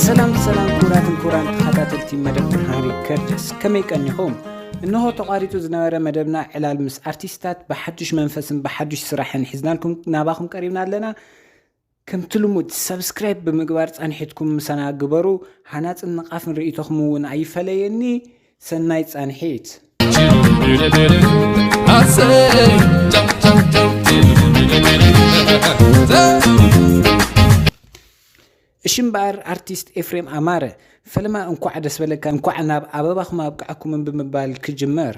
ሰላም ሰላም ክቡራትን ክቡራን ተኸታተልቲ መደብ ብርሃን ሪከርድስ ከመይ ቀኒኹም እንሆ ተቋሪፁ ዝነበረ መደብና ዕላል ምስ ኣርቲስታት ብሓዱሽ መንፈስን ብሓዱሽ ስራሕን ሒዝናልኩም ናባኹም ቀሪብና ኣለና ከምቲ ልሙድ ሰብስክራይብ ብምግባር ፃንሒትኩም ምሳና ግበሩ ሃናፅን ንቃፍን ርእቶኹም እውን ኣይፈለየኒ ሰናይ ፃንሒት። እሺ እምበኣር ኣርቲስት ኤፍሬም ኣማረ ፈለማ እንኳዕ ደስ በለካ እንኳዕ ናብ ኣበባኹም ኣብቅዓኩምን ብምባል ክጅመር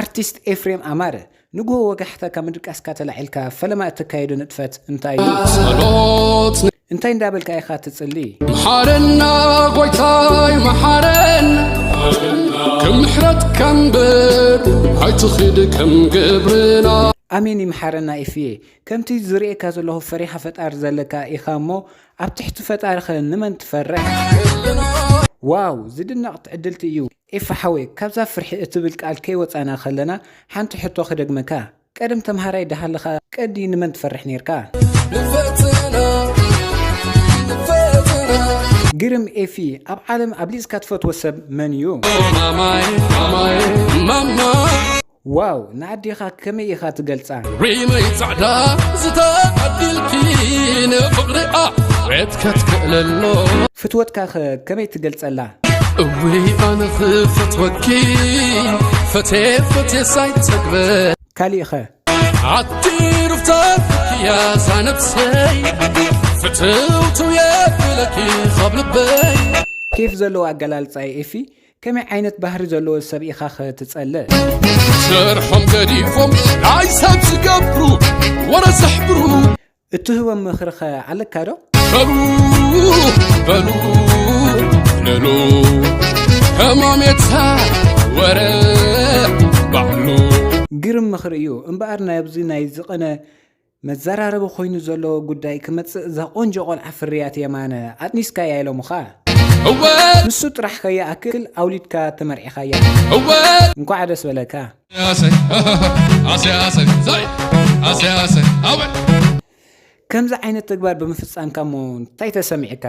ኣርቲስት ኤፍሬም ኣማረ ንግሆ ወጋሕታ ካብ ምድቃስካ ተላዒልካ ፈለማ እተካይዶ ንጥፈት እንታይ እዩ? ጸሎት እንታይ እንዳበልካ ኢኻ ትጽሊ? መሓረና ጐይታይ መሓረና ከም ምሕረትካ እምበር ኣይትኺድ ከም ግብርና ኣሜን ይምሓረና ኢፍየ ከምቲ ዝርእየካ ዘለኹ ፈሪኻ ፈጣሪ ዘለካ ኢኻ እሞ ኣብ ትሕቲ ፈጣሪኸ ንመን ትፈርሕ ዋው ዝድነቕ ትዕድልቲ እዩ ኤፋ ሓወይ ካብዛ ፍርሒ እትብል ቃል ከይወጻና ከለና ሓንቲ ሕቶ ክደግመካ ቀደም ተምሃራይ ዳሃለኻ ቀዲ ንመን ትፈርሕ ኔርካ? ግርም ኤፊ ኣብ ዓለም ኣብሊጽካ ትፈትዎ ሰብ መን እዩ? ዋው ንኣዴኻ ከመይ ኢኻ ትገልጻ? ሪመይ ጻዕዳ ዝተዓድልኪ ንፍቕሪኣ ውዕት ከትክእለሎ ፍትወትካ ከ ከመይ ትገልጸላ? እውይ ኣነ ክፈትወኪ ፈትየ ፈትየ ሳይጸግበ ካሊእ ከ? ኣቲ ሩፍታትኪያ ዛነብሰይ ፍትውትው የብለኪ ካብ ልበይ ኬፍ ዘለዎ ኣገላልጻ እዩ ኤፊ ከመይ ዓይነት ባህሪ ዘለዎ ሰብ ኢኻኸ ትጸልእ? ስርሖም ገዲፎም ናይ ሰብ ዝገብሩ ወረ ዘሕብሩ። እትህቦም ምኽሪኸ ኣለካ ዶ? በሉ በሉ ንሉ ህማሜታ ወረ ባዕሉ። ግርም ምኽሪ እዩ እምበኣር ናብዚ ናይ ዝቐነ መዛራረቢ ኮይኑ ዘሎ ጉዳይ ክመጽእ እዛ ቆንጆ ቆልዓ ፍርያት የማነ ኣጥኒስካያ ኢሎምኻ ንሱ ጥራሕ ከይኣክል ኣውሊድካ ተመርዒኻያ እንኳዕ ደስ በለካ ከምዚ ዓይነት ተግባር ብምፍጻምካ እሞ እንታይ ተሰሚዕካ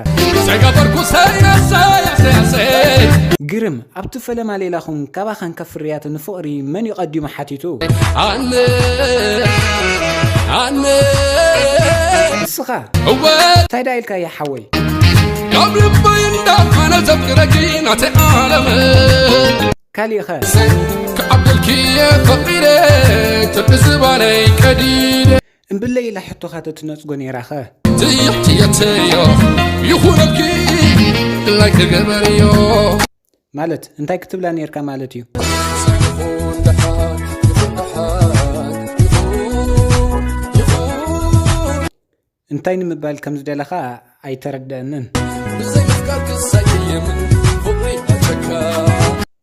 ግርም ኣብቲ ፈለማ ሌላኹም ካብ ኣኸንከ ፍርያት ንፍቕሪ መን'ዩ ቀዲሙ ሓቲቱ? ኣነ ኣነ ንስኻ እወ እንታይ ደኣ ኢልካያ ሓወይ? ካብ ልበይ እንዳመነ ዘፍቅረኪ ናተይ ዓለመይ ካሊእኸ? ክዓብደልኪ እየ ፈቒደ ትርቂ ዝባነይ ቀዲደ እምብለይ ኢላ ሕቶኻ ተትነጽጎ ነይራኸ? ትየትየትዮ ይኹነልኪ ድላይ ክገበርዮ ማለት እንታይ ክትብላ ነርካ ማለት እዩ እንታይ ንምባል ከም ዝደለኻ ኣይተረድአንን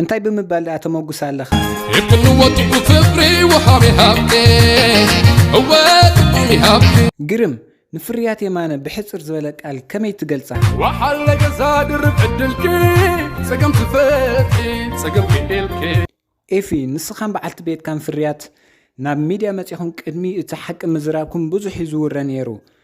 እንታይ ብምባል ደኣ ተመጉሳ ኣለኻ? እክሉ ወጢዑ ፍቅሪ ወሃቢ ሃብቲ እወ ጥዑም ይሃብቲ። ግርም! ንፍርያት የማነ ብሕጽር ዝበለ ቃል ከመይ ትገልጻ? ወሓለ ገዛ ድርብ ዕድልኪ ጸገም ትፈትሒ ጸገም ክኢልኪ። ኤፊ፣ ንስኻን በዓልቲ ቤትካን ፍርያት ናብ ሚድያ መጺኹም ቅድሚ እቲ ሓቂ ምዝራብኩም ብዙሕ እዩ ዝውረ ነይሩ።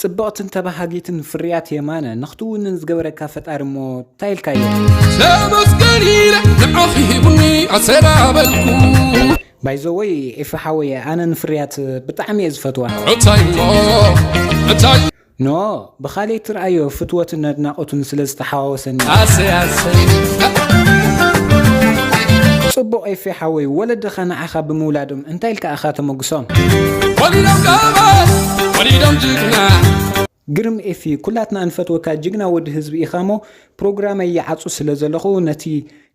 ጽብቕትን ተባሃጊትን ፍርያት የማነ ንኽትውንን ዝገበረካ ፈጣሪ እሞ ታይ ኢልካዮ። ተመስገን ኢለ ንዓኺ ሂቡኒ ኣሰናበልኩ ባይ ዘ ወይ ኤፊ ሓወይ ኣነ ንፍርያት ብጣዕሚ እየ ዝፈትዋ እንታይ እሞ እንታይ ን ብኻልእ ትርኣዮ ፍትወትን ኣድናቖትን ስለ ዝተሓዋወሰኒ ኣሰይ ኣሰይ ጽቡቕ ኤፊ ሓወይ ወለድኻ ንዓኻ ብምውላዶም እንታይ ኢልካ ኢኻ ተመጉሶም። ግርም ኤፊ ኩላትና እንፈትወካ ጅግና ወዲ ህዝቢ ኢኻሞ ፕሮግራመይ ይዓጹ ስለ ዘለኹ ነቲ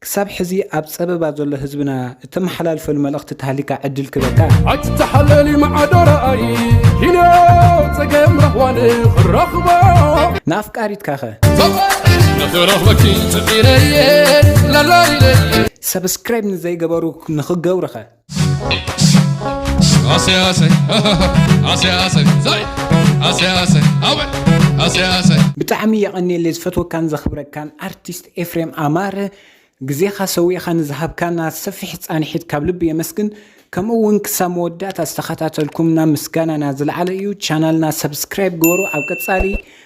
ክሳብ ሕዚ ኣብ ጸበባ ዘሎ ህዝብና እተመሓላልፈሉ መልእኽቲ ተሃሊካ ዕድል ክበካ ኣትተሓለሊ መዓዶራኣይ ኪነ ጸገም ረኽዋን ክረኽቦ ንኣፍቃሪትካኸ ንኽረኽበኪ ጽዒረየ ላላይለየ ሰብስክራይብ ንዘይገበሩ ንኽገብርኸ Hace, hace, hace, hace, zay, hace, hace, awe, hace, hace. ብጣዕሚ የቐኔለ ዝፈትወካን ዘኽብረካን ኣርቲስት ኤፍሬም ኣማረ ግዜኻ ሰዊእኻ ንዝሃብካና ሰፊሕ ፃንሒት ካብ ልቢ የመስግን ከምኡ እውን ክሳብ መወዳእታ ዝተኸታተልኩምና ምስጋናና ዝለዓለ እዩ ቻናልና ሰብስክራይብ ግበሩ ኣብ ቀፃሊ